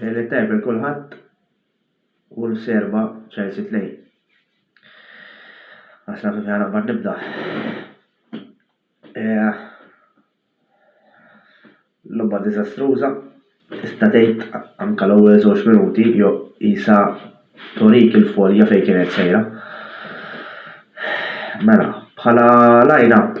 Lejlet tajba l kulħadd u l-serba Chelsea 2. Għas naf kif ħanaqbad nibda. Eh, logħba diżastruża. Tista' tgħid anke l-ewwel żewġ minuti jo isa torik il-folja fejn kienet sejra. Mela, bħala line-up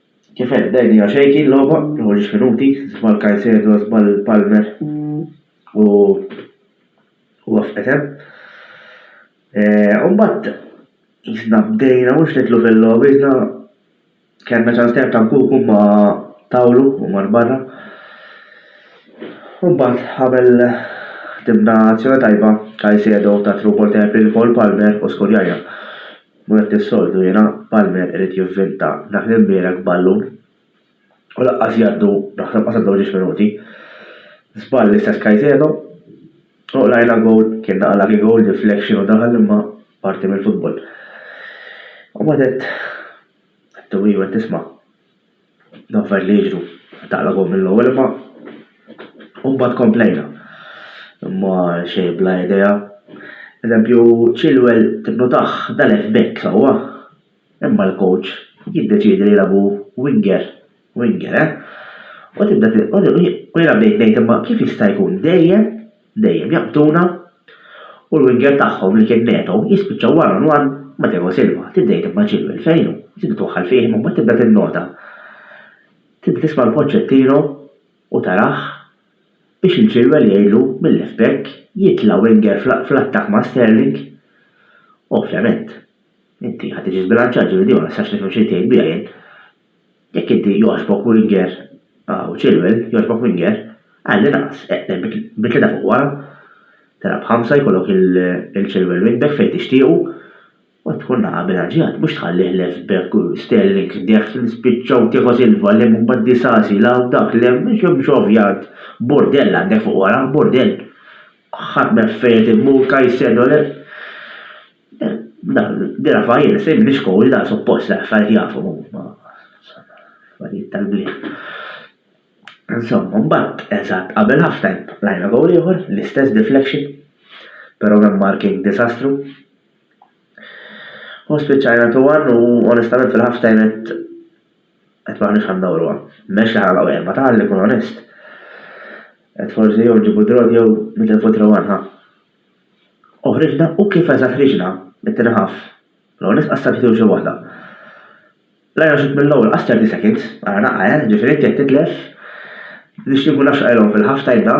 Kif għedt Dai Dia Shaky l-logħba tieħu xi minuti, żball Caicedo, żball Palmer u waffqet hemm. U mbagħad jisna bdejna mhux nidħlu fil-logħba, jisna kellna ċans tajjeb ta' Nkuku ma tawlu u mar barra. U mbagħad għamel ħdimna azzjoni tajba Caicedo ta' through ball tajjeb lil Cole Palmer u skurjajna. U hekk is-soltu jiena, Palmer irid jivvinta dak li mbierek ballun u laqqas jgħaddu naħseb qas għaddew ġiex minuti. Żball l-istess Caicedo u qlajna gowl kien naqa' lucky gowl deflection u daħal imma parti mill-futbol. U mbagħad għedt għedt u iva tisma'. Dawn affarijiet li jiġru taqlabhom mill-ewwel imma u mbagħad komplejna. Imma xejn bla idea. Eżempju, Chilwell tinnotah dal-left back sewwa, imma l-coach jiddeċiedi li jilagħbu winger, winger, eh? U tibda u jiena bdejt ngħid imma kif jista' jkun dejjem dejjem jaqbduna u l-winger tagħhom li kien Neto jispiċċa one on one ma' Tiago Silva. Tibda jitgħib ma' Chilwell fejn hu, tibda twaħħal fih imma mbagħad tibda tinnota, tibda tisma' 'l Pochettino u tarah biex lil Chilwell jgħidlu mil-left back jitla' winger fl-attakk ma' Sterling. Ovvjament, inti ħa tiġi żbilanċat, ġifieri din ma nistax nifhem x'rid tgħid biha jien. Jekk inti jogħġbok winger u Chilwell jogħġbok winger, għallinqas eqleb bi tlieta fuq wara, telgħab b'ħamsa jkollok il-Chilwell wingback fejn tixtiequ u tkun naqa' bilanċjat, mhux tħallih left back u Sterling dehf li spiċċaw Tiago Silva lemm u mbagħad Disasi la hawn dak lemm biex m'hemmx ovvjant Burdell għandek fuq wara, Burdell ħadd m'hemm fejn qed immur, Caicedo le. Di Rafael se jibni skola da suppost li affarijiet jafhom huma. Affarijiet tal-bliet. Insomma, mbagħad eżatt qabel halftime tlajna gowl ieħor, l-istess deflection, però minn marking diżastru. U spiċċajna 2-1 u onestament fil-halftime qed qed m'aħniex ħa ndawruha. Mhiex li ħa nagħlqu erba' tali, kun onest. Qed forsi jew nġibu draw jew nitilfu 3-1 ħa. Oħriġna u kif eżatt ħriġna mit-tieni half. L-ewwel nett qassart it-tim xi waħda. Rajna xutt mill-ewwel qas 30 seconds, ara naqqa eh, ġifieri inti qed titlef, nixtieq inkun naf x'qajlhom fil-half time'na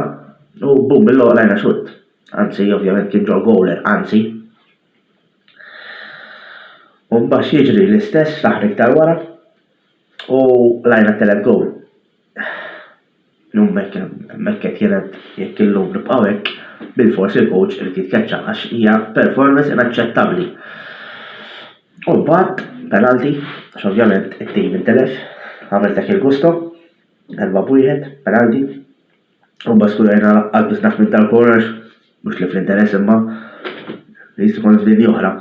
u boom mill-ewwel rajna xutt. Anzi, ovvjament kien ġo goal er, anzi. U mbagħad x'jiġri l-istess fl-aħħar iktar wara u rajna t-telet goal. Illum hemmhekk qed jingħad jekk illum nibqgħu hekk, bilfors il-coach irid jitkeċċa għax hija performance inaċċettabbli. U mbagħad penalti, għax ovvjament it-tim intilef, għamel dak il-gusto, darba b'wieħed, penalti. U mbagħad skurajna laqqas biss naħ minn tal-corners, mhux li fl-interess imma li jista' jkun f'dinja oħra.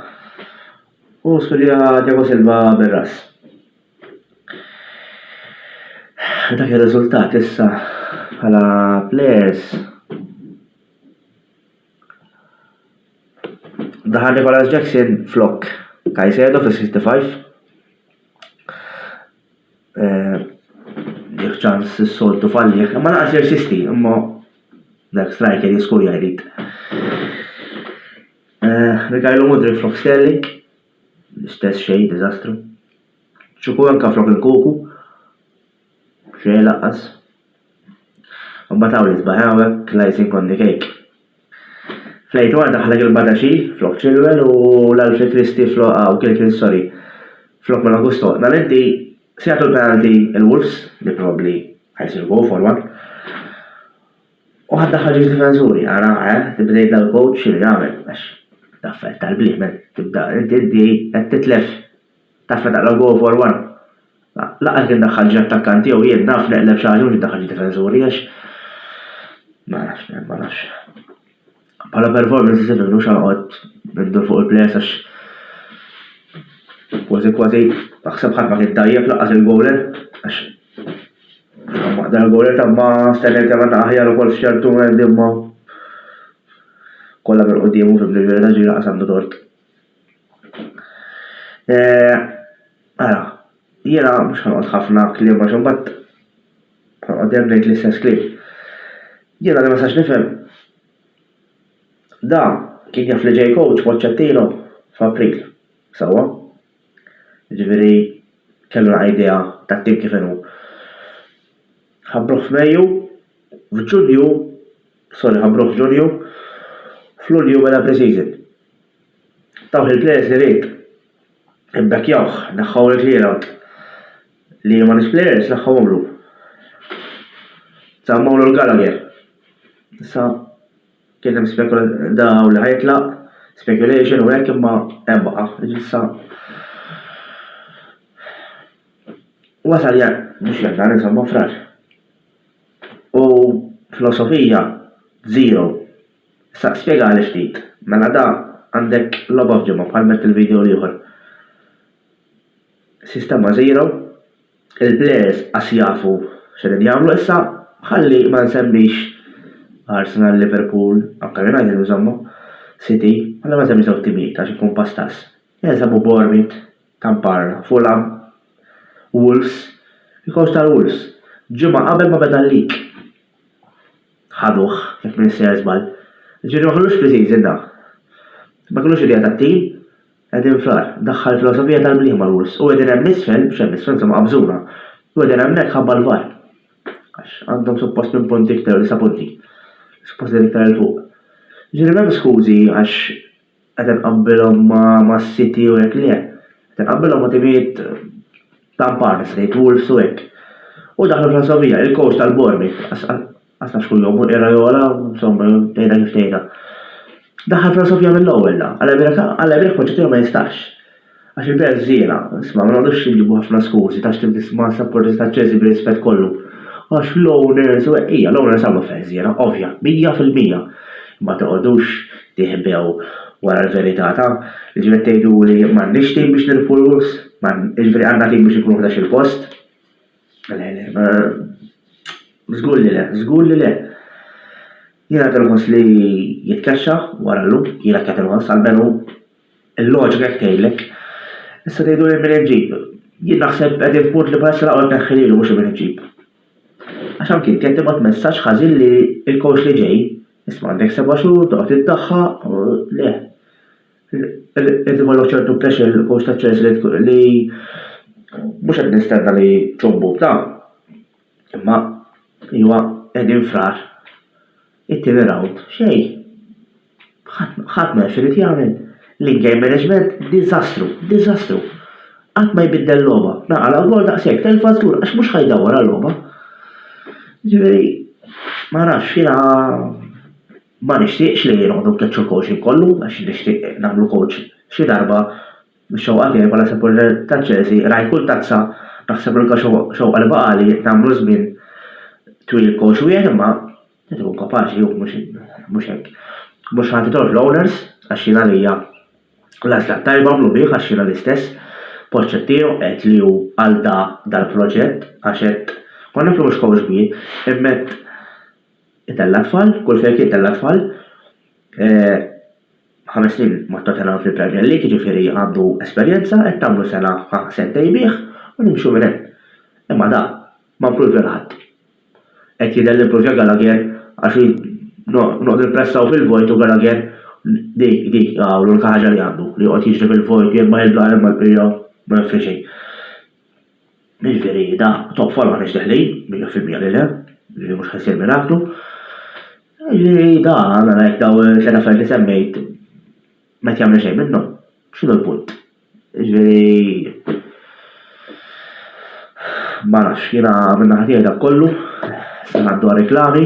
U skurja Diego Silva bir-ras. Dak ir-riżultat issa bħala players. Daħal Nicolas Jackson flok Kajsedo fi 65. Eh, jek ċans s-soltu falli, ma naqas jirsisti, imma dak striker jiskur jgħid. Eh, Mikajlu Mudri flok Sterling. L-istess xejn, diżastru. Ċukuranka flok il-kuku. Xejn lanqas. Imbagħad hawn l-isbaħ hawnhekk l-icing on the cake. Flejtwar daħlek il-badaxi flok ċilwel u l-Alfred Kristi flok hawn kien kien sorry. Flok ma Augusto. Dan inti se jagħtu l-penalty il-Wolves li probabbli ħajsir go forward. U ħadd daħħal ġieli difensuri, ara, eh, li bdejt dal-coach x'irid nagħmel, għax l-affarijiet tal-bliemel tibda inti inti qed titlef taf meta taqla' l-goal for one. Ma laqas kien daħħal ġie attakkanti jew jien naf neqleb xi ħaġa mhux daħħal ġie difensuri għax ma nafx, ma nafx. Bħala performance iżjed minnu x'għanqod nindur fuq il-plejers għax kważi kważi naħseb ħadd ma kien tajjeb laqqas il-goaler għax dan il-goaler ta' ma stennejt kemm għandna aħjar ukoll f'ċertu moment imma kollha minn quddiem u fim li ġieli ta' ġiri laqqas għandu tort. Eh, ara, jiena mhux ħanqod ħafna kliem għax imbagħad ħanqod ngħid l-istess kliem. Jiena li ma sax nifhem Dan kien jaf li ġej coach Pochettino f'April, sewwa? Jiġifieri kellu naqra idea tat-tim kif inhu. Ħabbruh f'Mejju, f'Ġunju, sorry ħabbruh f'Ġunju, f'Lulju beda pre-season. Tawh il-plejers li ried, imbeckyawh, neħħew il-clear out. Li ma nix players l-aħħa għomru. Sa Mauro l-Gallagher. Sa kien hemm spekula daw li ħajtlaq, speculation u hekk imma hemm baqa'. Issa wasal jan mhux jannar insomma frar. U filosofija zero. Sa spjega għaliex ftit. Mela da għandek logħba f'ġimgħa bħal met il-video l-ieħor. Sistema zero. Il-players qas jafu x'qegħdin jagħmlu issa, ħalli ma nsemmix Arsenal, Liverpool, anke United insomma, City, ħalli ma nsemmix dawn it-timijiet għax inkun pastaż. Jinsabu Bournemouth ta' barra, Fulham, Wolves, il-coach tal-Wolves, ġimgħa qabel ma beda l-league ħaduh, jekk m'insejjer żball. Jiġifieri ma kellux pre-season da. Ma kellux idea tat-tim. Qegħdin fl-agħar. Daħħal filosofija tal-bliema l-wls. U qegħdin hemm isfel, mhux hemm isfel, insomma qabżuna. U qegħdin hemmhekk ħabba l-VAR. Għax għandhom suppost minn punti iktar u disa' punti. Suppost qegħdin iktar 'il fuq. Jiġifieri m'hemm skużi għax qed inqabbilhom ma' City u hekk, le. Qed inqabbilhom ma' timijiet ta' mpar nista' ngħid, Wolves u hekk. U daħlu filosofija, il-coach tal-Bournemouth, Għasna xkun jobbu era jola, insomma, tejda kif tejda. Daħal filosofija mill-ewwel da, għal ebreka, għal ebrek poċċettiju ma jistax. Għax il-belt żiena, isma' ma naqdux nġibu ħafna skużi ta' x'tib tisma' sapporti ta' ċeżi bir-rispett kollu. Għax l-owners u eqqija, l-owners għamlu feh żiena, ovvja, mija fil-mija. Imma toqgħodux tiħbew wara l-verità ta' ġifieri tgħiduli m'għandniex tim biex nirbħu l-Wolves, jiġifieri għandna tim biex inkunu ħdax-il post. Le, le, ma. Żgur li le, żgur li le. Jiena qed inħoss li jitkaxxa wara llum, jiena qed inħoss għalmenu il-loġika hekk tgħidlek. Issa tgħidu li min iġġib. Jien naħseb qegħdin f'punt li bħalissa laqgħod neħħililu mhux min iġġib. Għax anki qed tibgħat messaġġ ħażin li l-coach li ġej, isma' għandek seba' xhur, toqgħod iddaħħaq, le. Qed ikollok ċertu pressure fuq il-kurs taċ-ċens li mhux qed nistenna li ċombu ta' imma iwa qegħdin frar. It-tieni round xejn. Ħadd ma jaf x'irid jagħmel. L-in-game management diżastru, diżastru. Qatt ma jbiddel logħba. Naqala gol daqshekk telfa żgur għax mhux ħajdawwar għal logħba. Ġifieri ma nafx jiena Ma nixtieqx li noqogħdu nkeċċu l-coaching kollu għax nixtieq nagħmlu coach xi darba, mix-xewqa tiegħi bħala sapporter ta' Chelsea rajt kull tazza, naħseb l-unika xewqa li baqgħali nagħmlu żmien twil coach wieħed imma irid ikun kapaċi hu mhux hekk. Mhux ħa titgħu fl-owners għax jien għalija l-għażla t-tajba għamlu bih għax jiena l-istess, Pochettino għedt li hu għal da dal-proġett għax hekk konna fl-imhux coach kbir, imma qed tal-atfal, kull fejn kien tal-atfal, ħames snin ma' Tottenham fil-Premier League, jiġifieri għandu esperjenza, qed tagħmlu sena ħa sentej bih u nimxu minn hemm. Imma da ma mpruvja lil ħadd. Qed jidher li mpruvja Gallagher għax noqogħdu npressaw fil-vojt u Gallagher dik dik hawn l-unika ħaġa li għandu, li joqgħod jiġri fil-vojt jien ma nibla jien ma npija ma nifri xejn. Jiġifieri da top follow għaliex deħlin, mija fil-mija li le, li mhux ħajsir miraklu. Jiġifieri da għandna ngħid daw tliet affarijiet li semmejt ma jagħmlu xejn minnhom. X'inhu l-punt? Jiġifieri ma nafx, jiena minn naħa tiegħi dak kollu, se ngħaddu għar-reklami.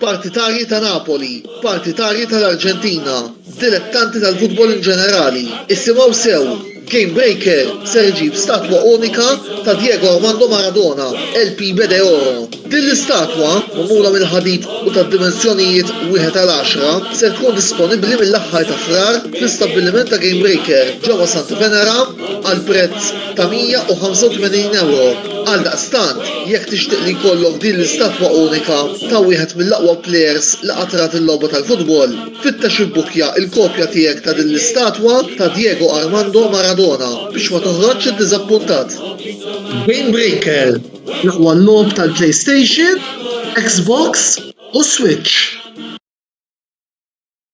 Partitarji ta' Napoli, partitarji tal-Arġentina, dilettanti tal-futbol in ġenerali, issimgħu sew, Game Breaker ser iġib statwa unika ta' Diego Armando Maradona, El Pibe de Oro. Din l-istatwa, magħmula mill-ħadid u tad-dimensjonijiet wieħed għal għaxra, ser tkun disponibbli mill-aħħar ta' Frar fl-istabbiliment ta' Game Breaker ġewwa Santa Venera għal prezz ta' 185 ewro. Għaldaqstant, jekk tixtieq li jkollok din l-istatwa unika ta' wieħed mill-aqwa plejers li qatt rat il-logħba tal-futbol, fittex ibbukkja l-kopja tiegħek ta' din l-istatwa ta' Diego Armando Maradona biex ma toħroġx iddiżappuntat. Game Breaker, l-aqwa logħob tal-PlayStation, Xbox u Switch.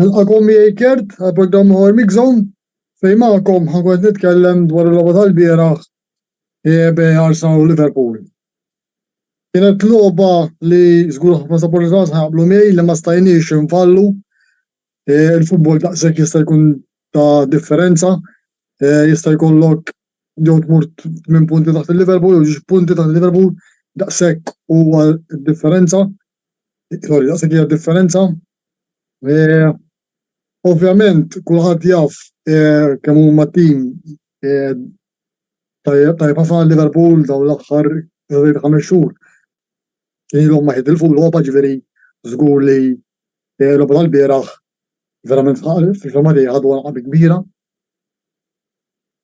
Nilqakom miegħi Kurt għal programm ieħor Mixom fejn magħkom ħankun qed nitkellem dwar il-logħba tal-bieraħ EB Arsenal Liverpool. Kienet logħba li żgur ħafna sapportazz ħaqblu miegħi li ma stajniex infallu e, il-futbol daqshekk jista' jkun ta' differenza e, jista' jkollok jew tmur minn punti taħt il-Liverpool jew punti taħt il-Liverpool daqshekk huwa differenza Sorry, daqshekk hija differenza. Eh, Ovvjament, kulħadd jaf eh, kemm huma tim eh, tajjeb tajjeb ħafna għal Liverpool dawn l-aħħar żejt ħames xhur. Ilhom ma jitilfu l-logħba ġifieri żgur li eh, l-logħba tal-bieraħ verament fil-fema tiegħi ħadu għalqabi kbira.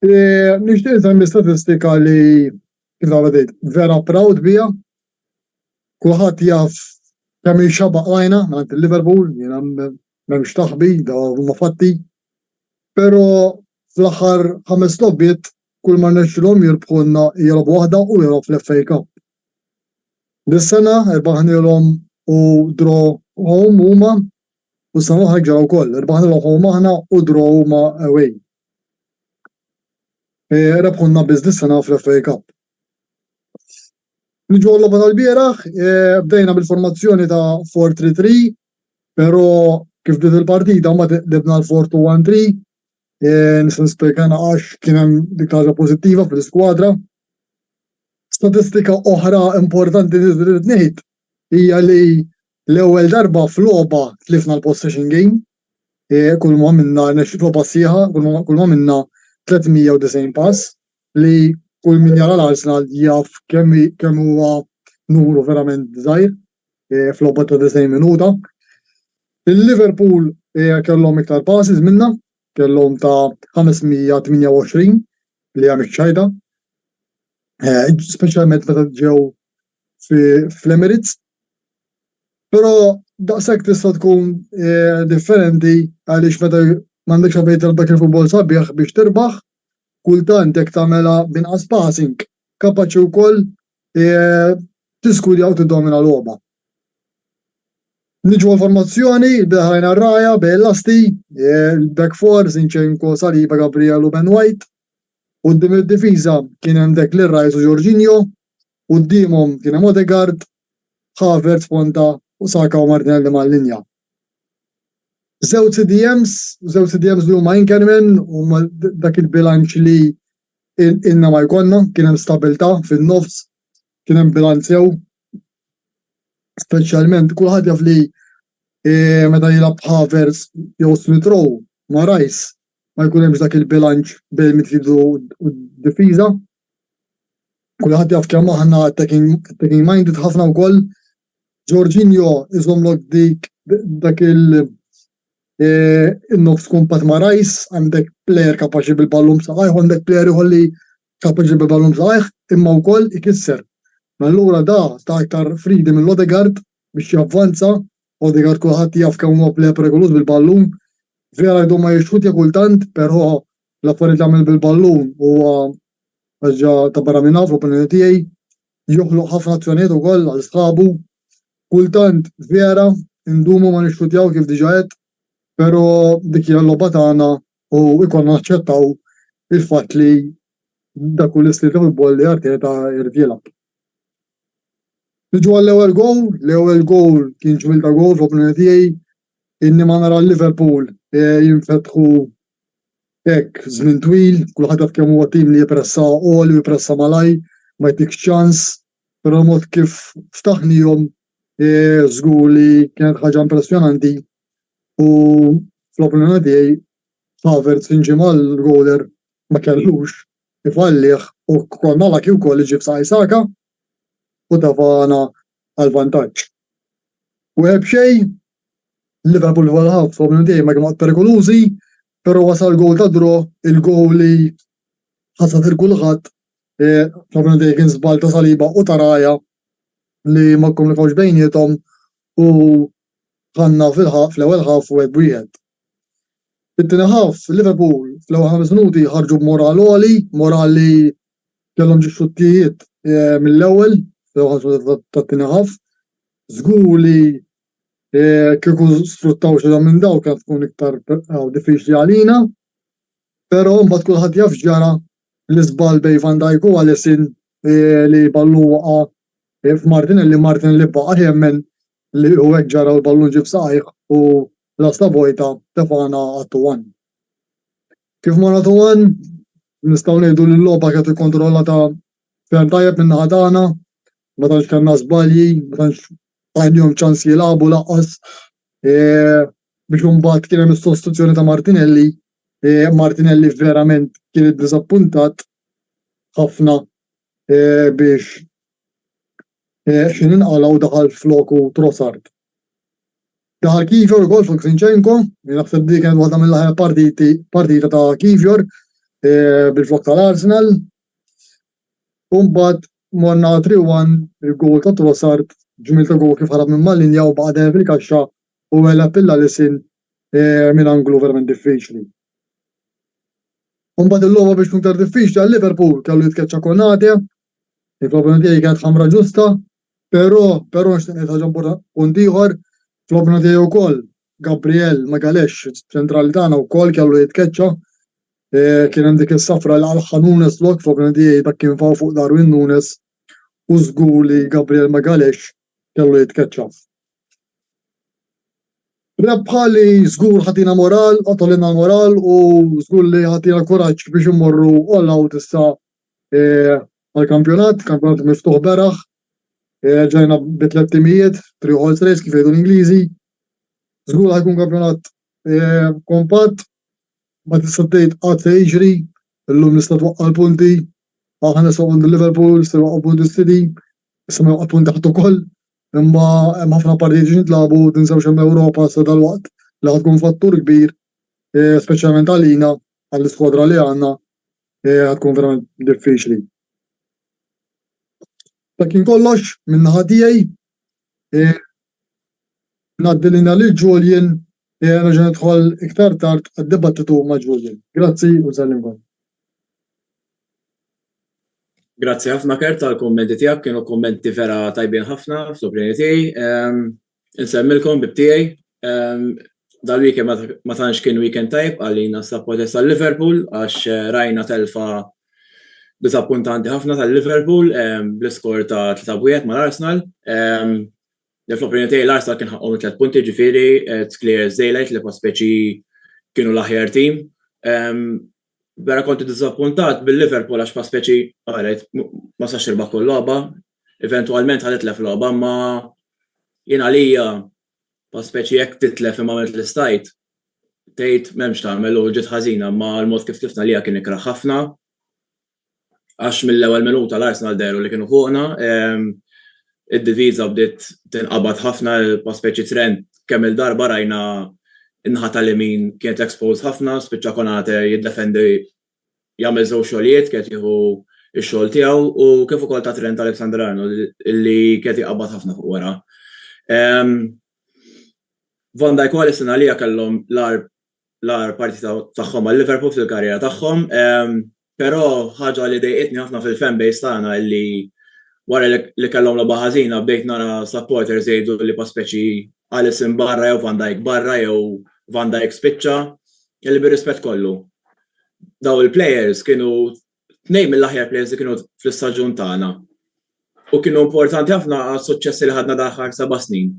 Eh, Nixtieq nsemmi statistika li kif għadejt vera proud biha Kulħadd jaf kemm hi xabaq rajna mingħand il-Liverpool, jiena m'hemmx taħbi da huma fatti. Però fl-aħħar ħames logħbiet kull ma rnexxilhom jirbħulna hija logħba waħda u lilhom fl-FA Cup. Dis-sena erbaħnilhom u dro home huma u s-sena l-oħra ġara wkoll, erbaħnilhom home aħna u dro huma away. E, rebħulna biss dis-sena fl-FA Cup. Niġu għal-logħba tal-bieraħ, bdejna bil-formazzjoni ta' 4-3-3, però kif bdiet il-partita mbagħad qlibna għal 4-2-1-3. Nista' nispjegana għax kien hemm dik l-ħaġa pożittiva fl-iskwadra. Statistika oħra importanti li rrid ngħid hija li l-ewwel darba f'logħba tlifna l-possession game. Kull ma minna, logħba sħiħa, kull ma minna 390 pass, li kull min jara l-Arsenal jaf kemm kemm huwa numru verament żgħir fl-logħba ta' 90 minuta. Il-Liverpool kellhom iktar passes minna, kellhom ta' 528 li għamil ċajda, speċjalment meta ġew fl-Emirates. Però daqshekk tista' tkun differenti għaliex meta m'għandekx għalfejn tilgħab dak il-futbol sabiħ biex tirbaħ kultant jekk tagħmilha b'inqas passing kapaċi wkoll tiżgudja u tiddomina logħba. Niġu għall-formazzjoni, Behrajn Arraja, Bale Lasti, il-back four, Zinchenko, Saliba, Gabriel u Ben White. Qudiem id-difiża kien hemm Declan Rice u Jorginho, quddiemhom kien hemm Odegaard, Havertz ponta u Saka u Martinelli mal-linja. żewġ CDMs, żewġ CDMs li huma Inkerman huma dak il-bilanċ li ilna ma jkollna, kien hemm stabilità fin-nofs, kien hemm bilanċ sew. Speċjalment kulħadd jaf li eh, meta jilgħab Havertz jew Smith Rowe ma' Rice ma jkun hemmx dak il-bilanċ bejn midfield u d-difiża. Kulħadd jaf kemm aħna attacking minded ħafna wkoll Jorginho iżommlok dik dak il eh, il-nofs kumpat ma' Rice, għandek plejer kapaċi bil-ballun b'saqajh, għandek plejer ieħor li kapaċi bil-ballun b'saqajh, imma wkoll ikisser. Allura da ta' iktar fridi mill Odegaard biex javvanza, Odegaard kulħadd jaf kemm huwa plejer perikoluż bil-ballun, vera jdu ma jixħutja kultant, però l-affarijiet jagħmel bil-ballun huwa ħaġa ta' barra minn hawn fl-opinjoni tiegħi. Joħloq ħafna azzjonijiet ukoll għal sħabu. Kultant vera ndumu ma nixxutjaw kif diġà għedt, però dik hija l-logħba tagħna u jkollna naċċettaw il-fatt li dak hu l-istil ta' futbol li Arteta jrid jilgħab. Niġu għall-ewwel gowl, l-ewwel gowl kien ġmiel ta' gowl fl-opinjoni tiegħi, inni ma nara Liverpool jinfetħu Hekk, żmien twil, kulħadd jaf kemm huwa tim li jippressa għoli u jippressa malajr, ma jtikx ċans, però l-mod kif ftaħnihom żgur li kienet ħaġa impressjonanti u fl-opinjoni tiegħi Havertz inġi mal-goaler ma kellux ifallih u kol malaki wkoll iġib saqaj Saka u tafana għal vantaġġ. U ebxej Liverpool wara ħafna u minn dejjem ma kienu qatt perikolużi, però wasal il-goal ta' draw, il-goal li ħasad lil kulħadd, ħafna minn dejjem kien żball ta' Saliba u ta' Raya li ma kkomunikawx bejniethom u ħanna fil-ħaf fl-ewwel ħaf wieħed b'wieħed. Fit-tieni ħaf Liverpool fl-ewwel ħames minuti ħarġu b'moral għoli, moral li kellhom ġi xuttijiet mill-ewwel fl-ewwel ħames minuti tat-tieni ħaf. Żgur li Kieku sfruttaw xi minn daw kien tkun iktar diffiċli għalina. Però mbagħad kulħadd jaf ġara l-iżball bejn Van Dijk u Alisson eh, li ballu waqa' eh, f'Martinelli, Martinelli baqa' jemmen li u hekk ġara l-ballun ġib saqajh u lasta vojta tefana għattu għan. Kif ma nagħtu għan, nistgħu ngħidu li l-logħba kienet ikkontrollata ferm tajjeb minn naħa tagħna, ma tantx kellna żbalji, ma tantx ma kellhomx ċans jilagħbu lanqas biex imbagħad kien hemm is-sostituzzjoni ta' Martinelli. Martinelli verament kien iddiżappuntat ħafna biex xin inqalgħu daħal floku Trossard. Daħal Kivjor ukoll fuq Zinchenko, naħseb dik kienet waħda mill-aħjar partita ta' Kivjor bil-flok tal-Arsenal. U mbagħad morna għal 3-1 il-goal ta' Trossard, ġmiel ta' goal kif ħarab minn mal-linja u baqa' dejjem fil-kaxxa u għeleb lil Alisson eh, minn anglu verament diffiċli. U mbagħad il-logħba biex tkun iktar diffiċli għal Liverpool kellu jitkeċċa Konate, il-problema tiegħi kienet ħamra ġusta, Però, però nixtieq ngħid ħaġa impor-, punt ieħor, tlobna tiegħi wkoll Gabriel Magalhaes, ċ-ċentrali tagħna wkoll kellu jitkeċċa, eh, kien hemm dik is-safra li għalħħa Nunes lok, tlobna tiegħi dak kien faw fuq Darwin Nunes u żgur li Gabriel Magalhaes kellu jitkeċċa. Rebħa li żgur ħatina moral, qatolina moral u żgur li ħatina kuraġġ biex immorru all out issa għall-kampjonat, kampjonat miftuħ beraħ, ġajna bi tliet timijiet, three horse race kif jgħidu l-Ingliżi. Żgur ħajkun kampjonat kompatt, ma tista' tgħid qatt se jiġri, illum nista' twaqqa' l-punti, aħna se għandu Liverpool, se waqqa' punti City, se waqqa' punti ħadd ukoll, imma hemm ħafna partijiet li jintlabu, tinsewx hemm Ewropa sa dalwaqt li ħatkun fattur kbir, speċjalment għalina, għall-iskwadra li għandna, Eja tkun verament diffiċli. Dak kien kollox minn naħa tiegħi. Eh, Ngħaddi lina lil Julian eh, nerġa' nidħol iktar tard għad-dibattitu ma' Julian. Grazzi u nsellimkom. Grazzi ħafna Kert tal-kommenti tiegħek, kienu kommenti vera tajbin ħafna fl-opinjoni tiegħi. Ehm, Insemmilkom bib tiegħi, dal-weekend ma tantx kien weekend tajb għalina s-sapporters tal-Liverpool għax eh, rajna telfa disappuntanti ħafna tal-Liverpool bl-iskor ta' 3 mal-Arsenal. Fl-opinjoni tiegħi l-Arsenal kien ħaqqhom tliet punti ġifieri eh, clear daylight li speċi kienu l-aħjar tim. vera konti diżappuntat bil-Liverpool għax Paspeċi qaret ma sax irbaħ kull logħba, eventwalment ħadet lef logħba, ma jien għalija Paspeċi jekk titlef imma għamilt l-istajt, tgħid m'hemmx tagħmel u ġiet ħażina ma l-mod kif tlifna għalija kien ikrah ħafna. għax mill-ewwel minuta l-Arsenal dehru li kienu fuqna. Id-diviża bdiet tinqabad ħafna pa' speċi trend kemm il-darba rajna n-naħa tal-imin kienet exposed ħafna, spiċċa Konate jiddefendi jagħmel żewġ xogħlijiet, kienet jieħu x-xogħol tiegħu u kif ukoll ta' Trent Alexander-Arnold li kienet iqabbad ħafna fuq wara. Van Dijk u Alisson għalija kellhom l-agħar l-agħar partita tagħhom għal Liverpool fil-karriera tagħhom. Però ħaġa li dejqitni ħafna fil-fan base tagħna li wara li kellhom logħba ħażina bdejt nara supporters jgħidu li pa speċi Alisson barra jew Van Dijk barra jew Van Dijk spiċċa. Kelli bir-rispett kollu. Daw il-players kienu Tnejn mill-aħjar players li kienu fl-istaġun tagħna u kienu importanti ħafna għas-suċċessi li ħadna dal-aħħar seba' snin.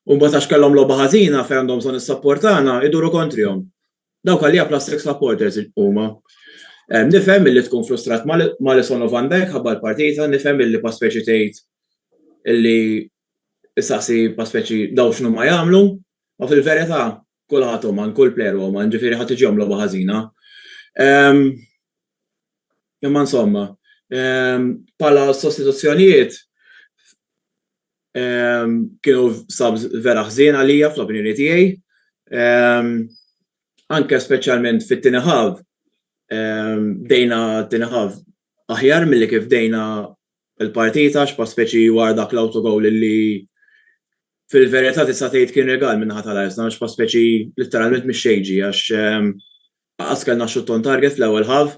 U mbagħad għax kellhom logħba ħażina fejn għandhom bżonn is-sapport tagħna, iduru kontrihom. Dawk għalija plastic supporters huma. Nifhem illi tkun frustrat m'Alisson u Van Dijk ħabba l-partita, nifhem illi pa speċi tgħid illi issaqsi pa speċi dawn x'inhuma jagħmlu, ma fil-verità Kulħadd uman, kull plejer huwa uman, ġifieri ħadd iġi jagħmel logħba ħażina. Ehm, imma insomma, ehm, bħala sostituzzjonijiet ehm, kienu sab vera ħżien għalija fl-opinjoni tiegħi. Ehm, anke speċjalment fit-tieni ħav, ehm, bdejna t-tieni ħav aħjar milli kif bdejna l-partita għax pa speċi wara dak l-autogoal li fil-verità tista' tgħid kien rigal min-naħa tal-Arsenal għax pa speċi litteralment mix-xejn ġie għax lanqas kellna xutt on target fl-ewwel half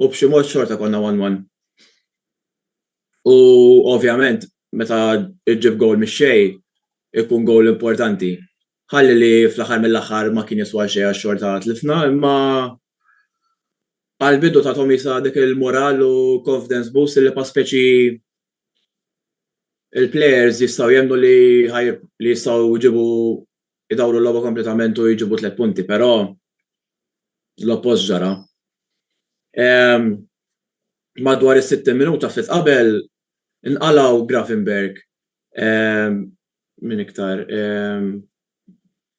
u b'xi mod xorta konna one one. U ovvjament meta ġġib goal mix-xejn ikun goal importanti Ħalli li fl-aħħar mill-aħħar ma kien jiswa xejn għax xorta tlifna, imma għall-bidu tathom qisha dik il-moral u confidence boost li pa speċi il-players jistgħu jemmnu li li jistgħu jġibu idawru l-logħba kompletament u jġibu tliet punti, però l-oppost ġara. Madwar is-60 minuta ftit qabel inqalgħu Gravenberch min iktar,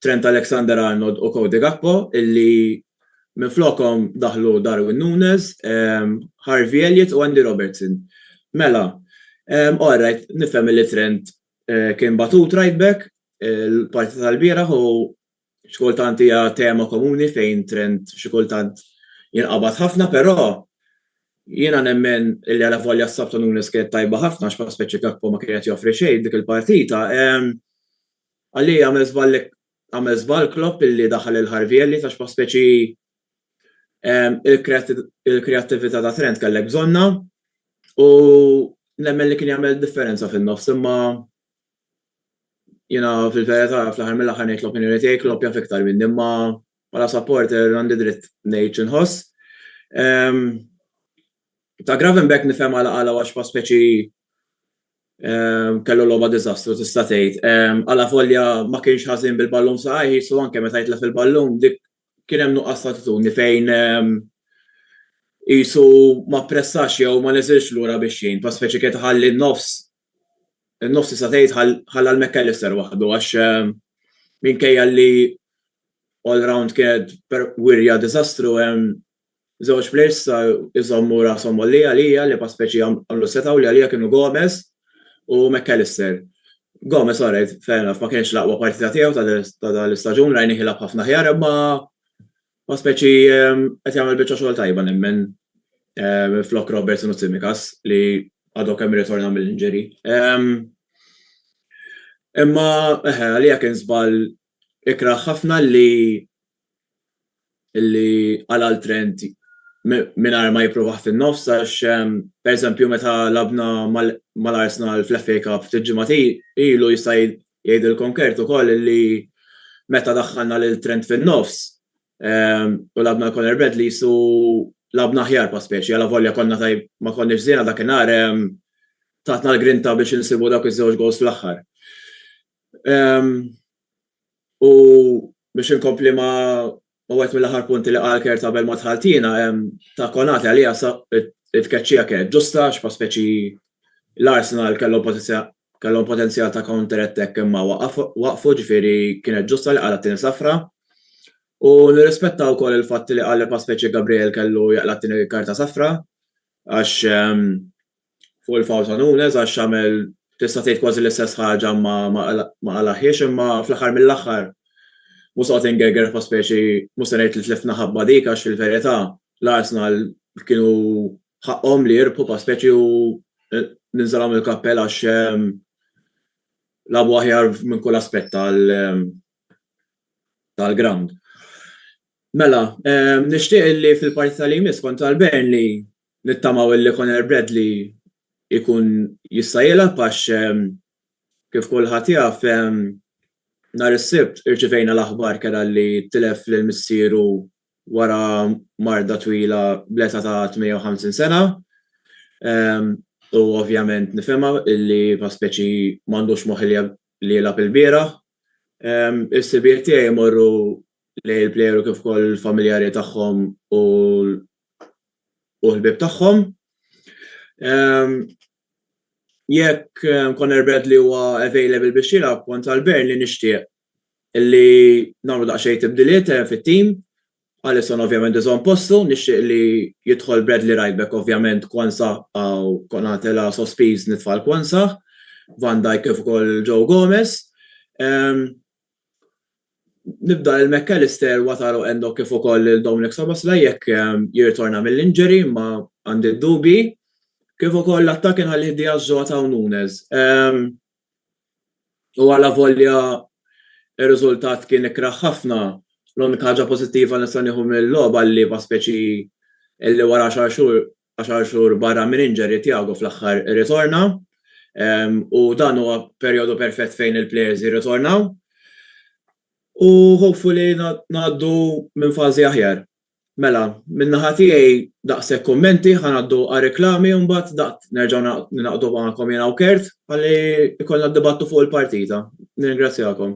Trent Alexander-Arnold u Cody Gakpo illi minflokhom daħlu Darwin Nunez, Harvey Elliott u Andy Robertson. Mela, alright, nifhem illi Trent kien batut right back il-partita tal-bieraħ u X'kultant hija tema komuni fejn trend xi kultant jinqabad ħafna, però jiena nemmen li alavolja s-sabt ta' Nunes kienet tajba ħafna għax bħala speċi Gakpo ma kien qed joffri xejn f'dik il-partita. Għalija għamel żball għamel żball Klopp illi daħal lil Harvey Elliott għax bħala speċi il-kreattività ta' Trent kellek bżonnha u nemmen li kien jagħmel differenza fin-nofs imma Jiena fil-verità fl-aħħar mill-aħħar ngħid l-opinjoni tiegħi Klopp jaf iktar minni imma bħala supporter għandi dritt ngħid xi nħoss. Ta' Gravenberch nifhem għala qala' għax pa' speċi kellu logħba diżastru tista' tgħid. Qala' volja ma kienx ħażin bil-ballun f'saqajh qisu anke meta jitlef il-ballun dik kien hemm nuqqas ta' attitudni fejn qisu ma ppressax jew ma niżilx lura biex jgħin pa' speċi kienet iħalli n-nofs In-nofs tista' tgħid ħalla 'l Mac Allister waħdu għax minkejja li all round kienet wirja diżastru hemm żewġ plejers issa jżommu rashom għoljin għalija li bħal speċi għamlu setgħu li għalija kienu Gomes u Mac Allister. Gomes alright fair enough ma kienx l-aqwa partita tiegħu ta' dan l-istaġun rajnih jilgħab ħafna aħjar imma Ma speċi qed jagħmel biċċa xogħol tajba nemmen flok Robertson u Tsimikas li għadhom kemm irritorna mill-injury. Imma eħe għalija kien żball ikrah ħafna li li għal Trent mingħajr ma jippruvaħ fin-nofs għax pereżempju meta labna mal-Arsenal fl-FA Cup ftit ġimgħat ilu jista' Jgħid il-Konkert ukoll li meta daħħalna lil Trent fin-nofs u lagħbna l-Conor Bradley qisu lagħbna aħjar pa' speċi, alavolja konna ma konniex żiena dakinhar, tatna l-grinta biex insibu dawk iż-żewġ gowls fl-aħħar. U biex inkompli ma' wieħed mill-aħħar punti li qal Kurt qabel ma dħalt jiena, ta' Konate għalija it-tkeċċija kienet ġusta għax pa' speċi l-Arsenal kellhom pożizzjoni kellhom potenzjal ta' counter attack imma waqfu ġifieri kienet ġusta li qala' t-tieni safra u nirrispetta wkoll il-fatt li qal li Paspecie Gabriel kellu jaqla' t-tieni karta safra għax fuq il-foul ta' Nunes għax għamel tista' tgħid kważi l-istess ħaġa imma ma qalagħhiex imma fl-aħħar mill-aħħar mhux se noqgħod ingerger Paspecie mhux se ngħid li tlifna ħabba dik għax fil-verità l-Arsenal kienu ħaqqhom li jirbħu pa' speċi u ninżalhom il-kappell għax labu aħjar minn kull aspett tal-ground. Mela, nixtieq li fil-partita li jmiss kontra l-Burnley nittamaw li Conor Bradley ikun jista' jilgħab għax kif kulħadd jaf nhar is-Sibt irċivejna l-aħbar kera li tilef lil missieru wara marda twila bl-età ta' 58 sena u ovvjament nifhimha illi bħal speċi m'għandux moħħ li jilgħab ilbieraħ. Il-ħsibijiet tiegħi jmorru lejn il-plejer u kif ukoll il-familjari tagħhom u l-ħbieb tagħhom. Jekk Conor Bradley huwa available biex jilgħab kont għal Burnley nixtieq li nagħmlu daqsxejn tibdiliet fit-tim. Alisson ovvjament iżomm postu, nixtieq li jidħol Bradley Right Back ovvjament Quansah hawn Konate la sospiż nitfa' 'l Quansah, Van Dijk kif ukoll Joe Gomez. Nibda lil McAllister, Wataru Endo kif ukoll lil Dominic Szoboszlai jekk jirritorna mill-injury imma għandi d-dubji. Kif ukoll l-attakk inħallih Diaz, Jota u Nunez. U għala volja ir-riżultat kien ikrah ħafna, l-unika ħaġa pożittiva li nista' nieħu mill-logħba l-liema speċi li wara għaxar xhur għaxar xhur barra minn injury Thiago fl-aħħar irritorna u dan huwa perjodu perfett fejn il-players jirritornaw u hopefully ngħaddu minn fażi aħjar. Mela, min-naħa tiegħi daqshekk kummenti, ħa ngħaddu għar-reklami u mbagħad daqt nerġgħu ningħaqdu magħkom jiena u Kurt ħalli jkollna d-dibattitu fuq il-partita. Nirringrazzjakom.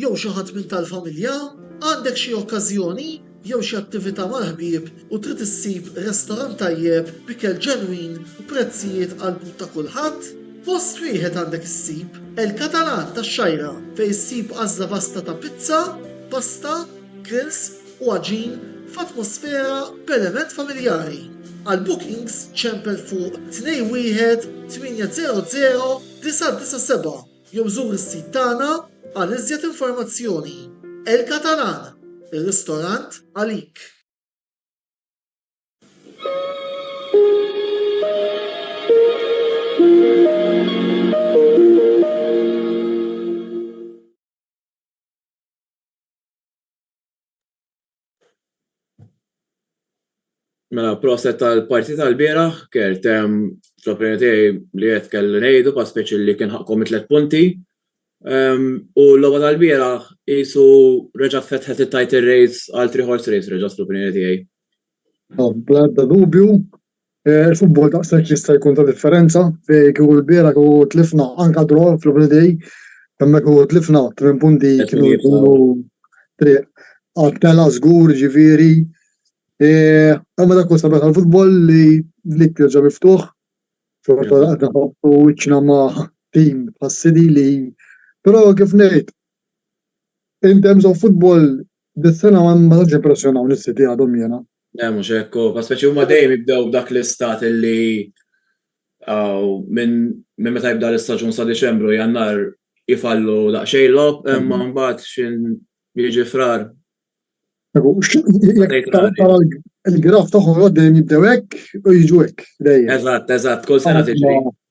jew xi ħadd minn tal-familja, għandek xi okkażjoni jew xi attività mal-ħbieb u trid issib restorant tajjeb b'ikel ġenwin u prezzijiet għall-but ta' kulħadd, post wieħed għandek issib El Catalan tax-Xgħajra fejn issib għażla vasta ta' pizza, pasta, grills u għaġin f'atmosfera b'element familjari. Għal bookings ċempel fuq 21800 997. Jew żur is-sit tagħna għal iżjed informazzjoni. El Catalan, ir-ristorant għalik! Mela, proset tal-parti tal-bieraħ, kert, fl-opinjoni tiegħi li qed kelli ngħidu pa' speċi li kien ħaqqhom it-tliet punti. U l-logħba tal-bieraħ qisu reġgħet fetħet it-title race għal three horse race reġgħet fl-opinjoni tiegħi. Bla ebda dubju, Eh, il-futbol daqshekk jista' jkun ta' differenza fejn kieku l-biera kieku tlifna anka draw fl-holiday imma kieku tlifna tmien punti kienu jkunu triq għat-tela żgur ġifieri. Eh, imma dak huwa sabiħ tal-futbol li li jerġa' miftuħ xorta qed nħabtu wiċċna ma' tim bħas-City li però kif ngħid in terms of football Dis-sena ma tantx jippressjonaw lis-City għadhom jiena. Le mhux hekk hu, ma speċi huma dejjem jibdew b'dak l-istat illi minn meta jibda l-istaġun sa Diċembru, Jannar jifallu daqsxejn logħob, imma mbagħad xi jiġi Frar. Il-graf tagħhom dejjem jibdew hekk u jiġu hekk dejjem. Eżatt, eżatt, kull sena tiġri.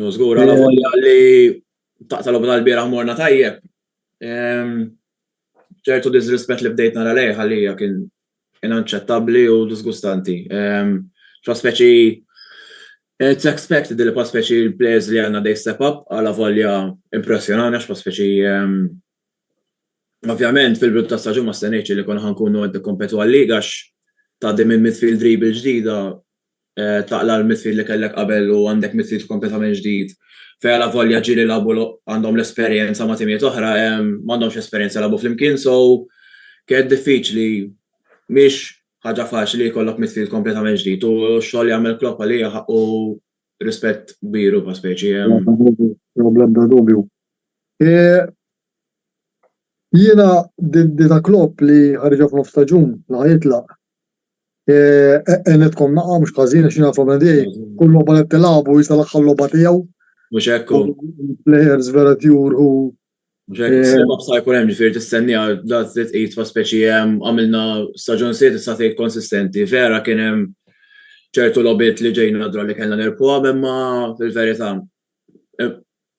Ju żgur għal volja li taqta' lobna l-bieraħ morna tajjeb. ċertu disrispett li bdejt nara lejh għalija kien inaċċettabbli u disgustanti. Pa speċi It's expected li pa speċi l-players li għanna dej step up għala volja impressjonana pa speċi Ovvjament fil-bidu ta' staġun ma stenejċ li konna ħankunu għed kompetu għal-liga ta' dim il-midfield dribble ġdida taqla' l-midfield li kellek qabel u għandek midfield kompletament ġdid. Fejn la volja ġieli labu għandhom l-esperjenza ma' timijiet oħra, m'għandhomx esperjenza labu flimkien, so kienet diffiċli mhix ħaġa faċli jkollok midfield kompletament ġdid u x-xogħol li għamel Klopp għalija ħaqqu rispett kbir u speċi. Bla ebda dubju. Jiena din ta' Klopp li ħariġha f'nofs staġun li ħa jitlaq Għenitkom naqqa mux kazin, xina nafu minn di, kull loba li t-tilabu jisa l-axħal loba tijaw. Mux ekku. Players vera tjur u. Mux ekku, s-sebab sa' jkun hemm ġifir t-istennija, da' t-zit id fa' speċi hemm għamilna staġun sit sa' tejt konsistenti. Vera kien hemm ċertu lobit li ġejna nadra li kellna nerpu għam, imma fil-verita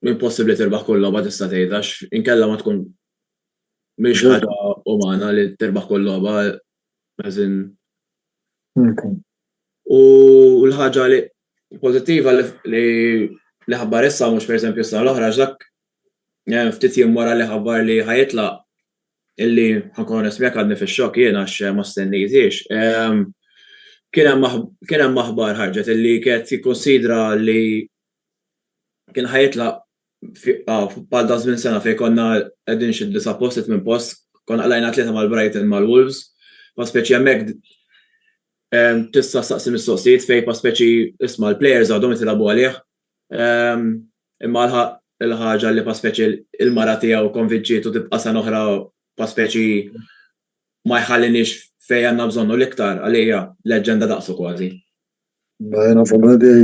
impossibli tirbaħ kull loba tista' tejt, għax inkella ma tkun miex ħaġa umana li tirbaħ kull loba, As in. Okay. U l-ħaġa li pozittiva li li ħabbar issa mhux pereżempju s-sena l-oħra dak eh, ftit jiem wara li ħabbar li ħajetla illi ħankun nismjek għadni fix-xokk jien għax eh, ma stennejtiex. Ehm, kien hemm aħbar ħarġet illi kienet jikkonsidra li kien ħajitla bħal ta' żmien sena fejn konna qegħdin xi disa' post it minn post, konna qlajna tlieta mal-Brighton mal-Wolves, pa' speċi hemmhekk tista' staqsi mistoqsijiet fejn pa' speċi isma' l-plejers għadhom qed jilagħbu għalih. Imma l-ħaġa li pa' speċi l-mara tiegħu konvinċietu tibqa' sena oħra pa' speċi ma jħalliniex fejn għandna bżonnu l-iktar għalija leġġenda daqsu kważi. Ma jena fl li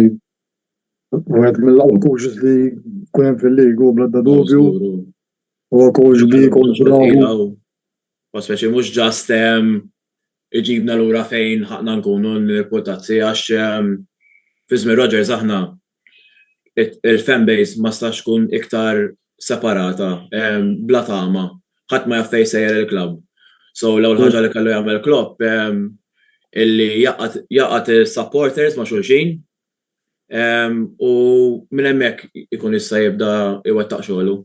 għed mill-għal coaches li kunem fil-ligu bla da dubju. U coach bi, coach bravu. Ma speċi mux ġast iġibna l-ura fejn ħakna nkunu n-reputazzi għax Fizmi Rogers aħna il-fan base ma stax tkun iktar separata bla tama ħadd ma jaf fejn sejjer il-klabb. So l-ewwel ħaġa li kellu jagħmel Klopp illi jaqgħad is-supporters ma' xulxin u minn hemmhekk ikun jista' jibda jwettaq xogħlu.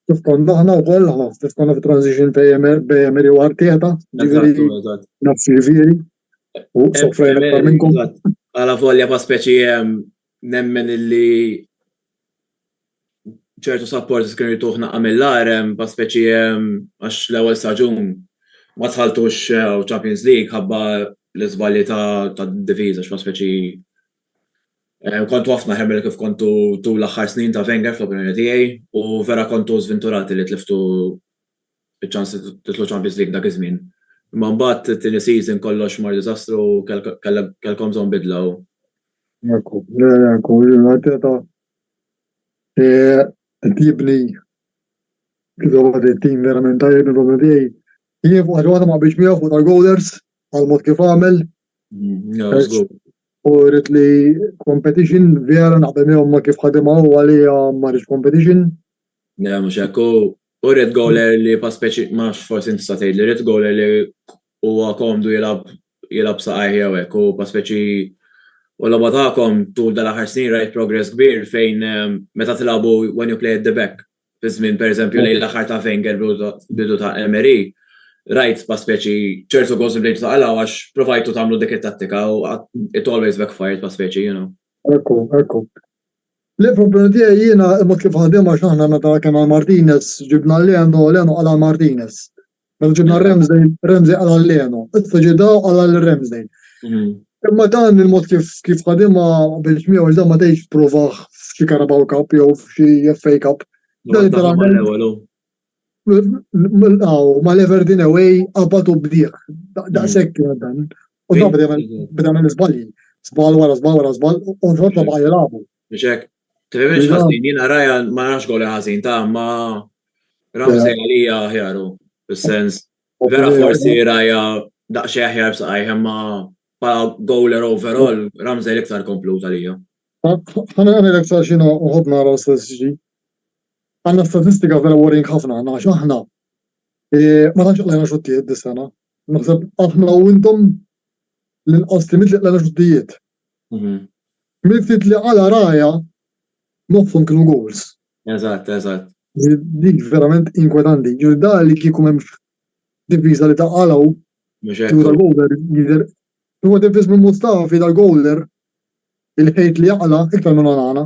Kif konna aħna wkoll, kif konna fit-transition bejn Emery u Arteta, ġifieri nafx ġifieri, U sofrejna aktar minnkom. Għala volja pa' speċi hemm nemmen illi ċertu supporters kienu jtuħ naqqa mill-arem pa' speċi hemm għax l-ewwel staġun ma tħaltux eh, Champions League ħabba l-iżbalji ta' diviża x'pa' speċi eh, kontu ħafna ħemel kif kontu tul l-aħħar snin ta' Wenger fl-opinjoni tiegħi u vera kontu żvinturati li tliftu Spiċċa titlu Champions League dak iż-żmien. Imma mbagħad it-tieni season kollox mar diżastru u kellkom bżonn bidla u. Ekku, ekku, Arteta qed jibni kif it-tim verament tajjeb il-problema tiegħi. Jien fuq ħaġa ma biex miegħu fuq tal-goalers għal mod kif għamel. U rrit li competition vera naqbel miegħu ma kif ħadimha u għalija ma rridx competition. Le, mhux hekk U red goaler li pa speċi, ma nafx forsi inti sa tgħid li red goaler li huwa komdu jilab jilab saqajh jew hekk u pa speċi u logħba tagħkom tul dal-aħħar snin rajt progress kbir fejn ehm, meta tilagħbu when you play at the back fi żmien pereżempju lejn l-aħħar ta' Wenger bidu ta' Emery rajt pa speċi ċertu goals li ta' għalaw għax provajtu tagħmlu dik it-tattika u it always backfired pa speċi, you know. Ekku, ekku. Le, problema tiegħi jiena imma kif ħadem għax aħna meta kien għal Martinez ġibna Leno, Leno qal għal Martinez. Meta ġibna Ramsdale, Ramsdale qal għal Leno. Issa ġie daw qal għal Ramsdale. Mhm. Imma dan il-mod kif kif ħadimha biex miegħu dan ma tgħidx provaħ f'xi Carabao Cup jew f'xi FA Cup. Dan literalment Aw, ma l-Everdeen Away qabad u bdieħ. Daqshekk kien dan. U dan beda minn żbalji. Żball wara żball wara żball u l-frott ma baqa' jilagħbu. Biex hekk. Tifhimx ħażin, jiena rajha ma nafx goli ħażin ta' ma Ramsey għalija aħjaru. Fis-sens, vera forsi rajha daqsxejn aħjar b'saqajh imma bħala goler overall Ramsey l-iktar komplut għalija. Ħana nagħmel iktar xi nħobb nara l-istess ġdid. Għandna statistika vera worrying ħafna aħna għax aħna ma tantx qlajna xuttijiet dis-sena. Naħseb aħna u intom l-inqas li mitli qlajna xuttijiet. Mhm. Mill-ftit li għala raja nofhom kienu goals. Eżatt, eżatt. Dik verament inkwetanti. Ġifieri da li kieku hemm diviża li ta' għalaw kieku tal-goaler jidher. Huwa diviż minn Mustafi tal-goaler il-ħejt li jaqla iktar minn għana.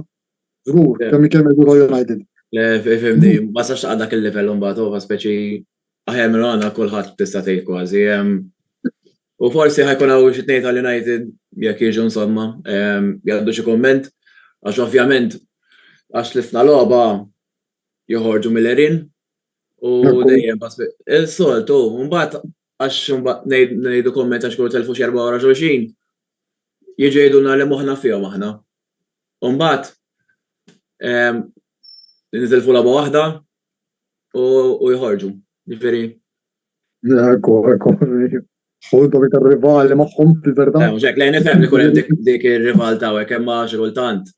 Żgur, kemm ikellem Edugo United. Le, fimni, ma sax taqqa' dak il-livell imbagħad huwa speċi aħjar minn għandna kulħadd tista' tgħid kważi. U forsi ħajkun hawn xi tnejn tal-United jekk jiġu insomma jgħaddu xi kumment għax ovvjament għax tlifna logħba joħorġu mill-erin u dejjem il-soltu mbagħad għax ngħidu kumment għax kull telfu xi erba' wara xulxin jiġu jgħidulna li moħħna fihom aħna. U mbagħad nitilfu logħba waħda u jħorġu. Ġifieri. Ekku, ekku. Ħud u iktar rivali magħhom fil-verità. Eh, Ġek, lejn ifhem li kull dik ir-rival ta' hekk hemm xi kultant.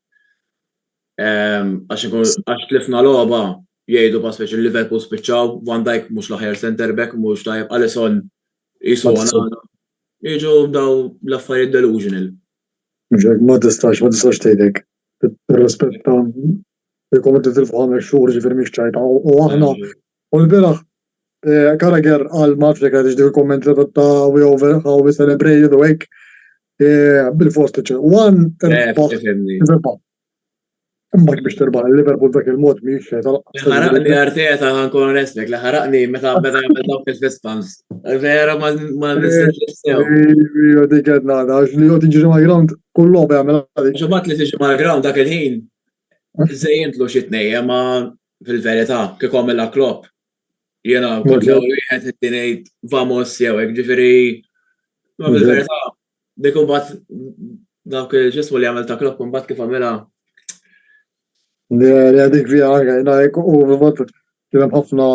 Għax tlifna logħba jgħidu pa' speċi Liverpool spiċċaw, Van Dijk mhux l-aħjar center back, mhux tajjeb, Alisson jisona. Jiġu daw l-affarijiet delusional. Mhux hekk, ma tistax, ma tistax tgħid hekk. Tirrispetta jekk qed titilfu ħames xhur ġifieri mhix tajba u aħna u l-bieraħ eh, Carragher qal ma nafx jekk għadix dik il-kumment li ta' we over how we celebrated u hekk eh, bil-fost one eh, Imbagħad biex terbaħ il-Liverpool dak il-mod mhijiex xejn tal-qatt. Ħaraqni Arteta ħankun onestek li ħaraqni meta beda jagħmel dawk il-fist pumps. Vera ma nistax nistew. Ija dik qed nagħda għax li jgħod jiġri mal-ground kull logħba jagħmel għalik. Ġemat li tiġi mal-ground dak il-ħin żejjentlu xi tnejja ma fil-verità kif għamilha Klopp. Jiena kont l-ewwel wieħed qed ngħid vamos jew hekk ġifieri ma fil-verità Dik imbagħad dak ġismu li għamel ta' klokk imbagħad kif għamilha. Li għadik fija anke, najk u bivat kienem ħafna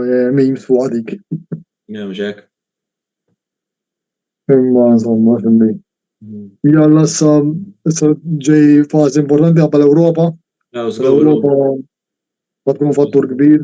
eh, memes fuq għadik. Jemġek. Imma insomma, xinni. Mm. Jalla sa ġej fazi importanti għabba l-Europa. L-Europa ma tkun fattur kbir.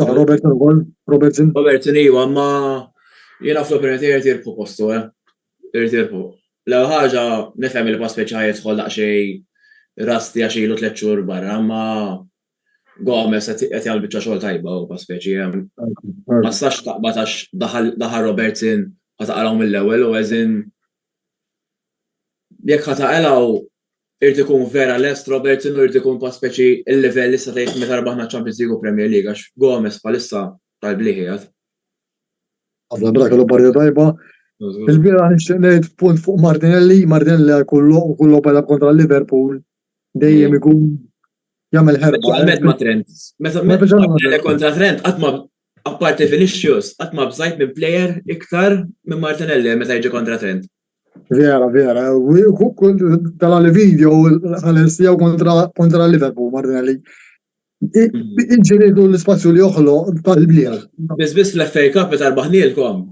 Ġaħ Robertson ukoll, Robertson. Robertson iva, ma jiena fl-opinjoni tiegħi irid jirpu postu, eh. Irid jirpu. L-ewwel ħaġa nifhem li pass speċjali jidħol daqsxejn rasti għax ilu tliet xhur barra, ma Gomez qed jagħmel biċċa xogħol tajba u pass speċi hemm. Ma sax taqbad għax daħal Robertson ħa taqalgħu mill-ewwel u eżin jekk ħa taqalgħu Irid ikun vera lest Robertson u jrid ikun pa' speċi l-livell issa tgħid meta rbaħna ċ-Champions League u Premier League għax Gomes bħalissa tal-blieh qiegħed. Ħafna bra kellu partita tajba. Il-bieraħ nixtieq ngħid punt fuq Martinelli, Martinelli għal kull logħob u kull logħob għal kontra Liverpool dejjem ikun jagħmel ħerba. Speċjalment ma' Trent. Meta Ma biża' ma' meta kontra Trent qatt ma apparti Vinicius qatt ma bżajt minn plejer iktar minn Martinelli meta jiġi kontra Trent. Vera, vera. Kull tala li video ħares jew kontra kontra Liverpool Martinelli. Inġiridu l-ispazju li joħlo tal-bieħ. Biss biss fl-FA Cup meta rbaħnielkom.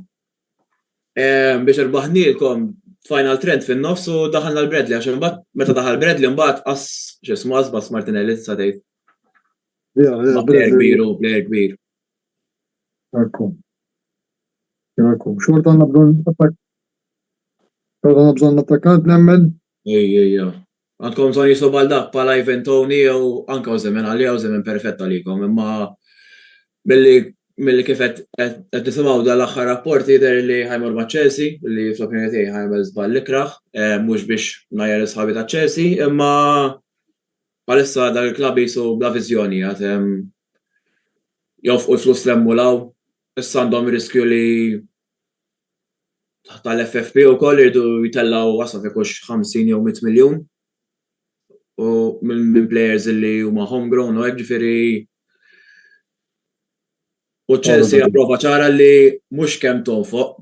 Biex rbaħnielkom final trend fin-nofs u daħalna l-Bradley għax imbagħad meta daħal Bradley mbagħad qas x'ismu qas bas Martinelli sa tgħid. Vera, vera. Player kbir u player kbir. Ekku. Ekku. Xorta għandna bżonn Pero għandna bżonn attakkant nemmen. Ej, ej, ej. Għandkom bżonn jislu bħal dak bħal Ivan Tony jew anke Ozemen għalija Ozemen perfett għalikom imma milli milli kif qed qed nisimgħu dan l-aħħar rapport jidher li ħajmur ma' Chelsea li fl-opinjoni tiegħi ħajmel żball l-ikrah eh, mhux biex ngħajjar is-sħabi ta' Chelsea imma bħalissa dak il-klabb jisu bla viżjoni għad jofqu l-flus l-emmulaw issa għandhom riskju li taħt tal-FFP wkoll iridu jtellgħu wasal jkunx 50 jew 100 miljun u minn players li huma homegrown u hekk ġifieri u Chelsea approva ċara li mhux kemm tonfoq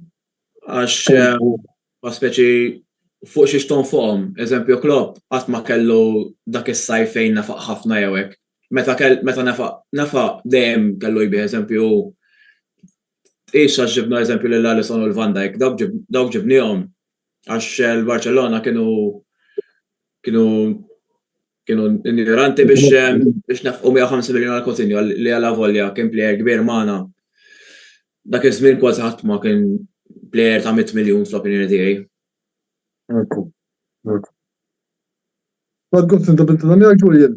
għax ma speċi fuq xiex tonfoqhom. Eżempju Klopp qatt ma kellu dak is-sajf fejn nafaq ħafna jew hekk. Meta meta nafaq nafaq dejjem kellu jbih eżempju Tqis għax ġibna eżempju lil Alisson u l-Van Dijk, dawk ġibniehom għax l-Barċellona kienu kienu kienu injoranti biex biex nefqu 150 miljun għal Coutinho li għala volja kien plejer kbir magħna. Dak iż-żmien kważi ħadd ma kien plejer ta' 100 miljun fl-opinjoni tiegħi. Ekku. Għad għobt inta binta dan jgħid Julian.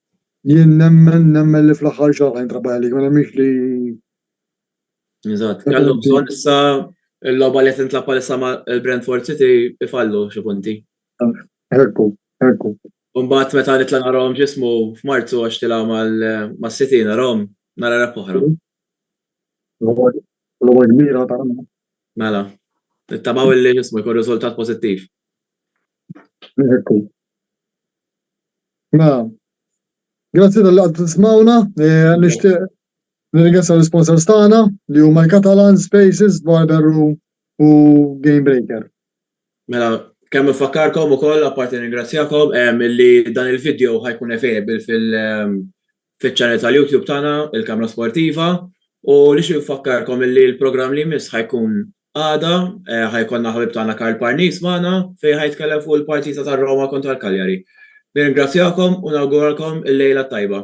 Jien nemmen, nemmen li fl-aħħar xahar ħa jintrabah għalik, ma nemminx li. Eżatt, kellhom bżonn issa l-logħba li qed tintlab bħalissa ma' l-Brentford City ifallu xi punti. Ekku, ekku. Mbagħad meta nitla' narahom ġismu f'Marzu għax tilgħu mas-City narahom nara rep oħra. Logħba kbira ta' Mela, nittamaw li ġismu jkun riżultat pożittiv. Ekku, Mela, grazzi tal-li għad tismawna, eh, nishtiq nirringrazzja l-sponsors tagħna li huma l-Catalan, Spaces, Barber Room u Game Breaker. Mela, kemm nfakkarkom ukoll apparti nirringrazzjakom li dan il-video ħajkun available fil-channel tal-YouTube tagħna, il-Kamra Sportiva, u nixtieq nfakkarkom li l-programm li jmiss ħajkun Għada ħa jkollna ħabib tagħna Karl Parnis magħna fejn ħa jitkellem fuq il-partita ta' Roma kontra l-Cagliari. Nirringrazzjakom u nawguralkom il-lejla t-tajba.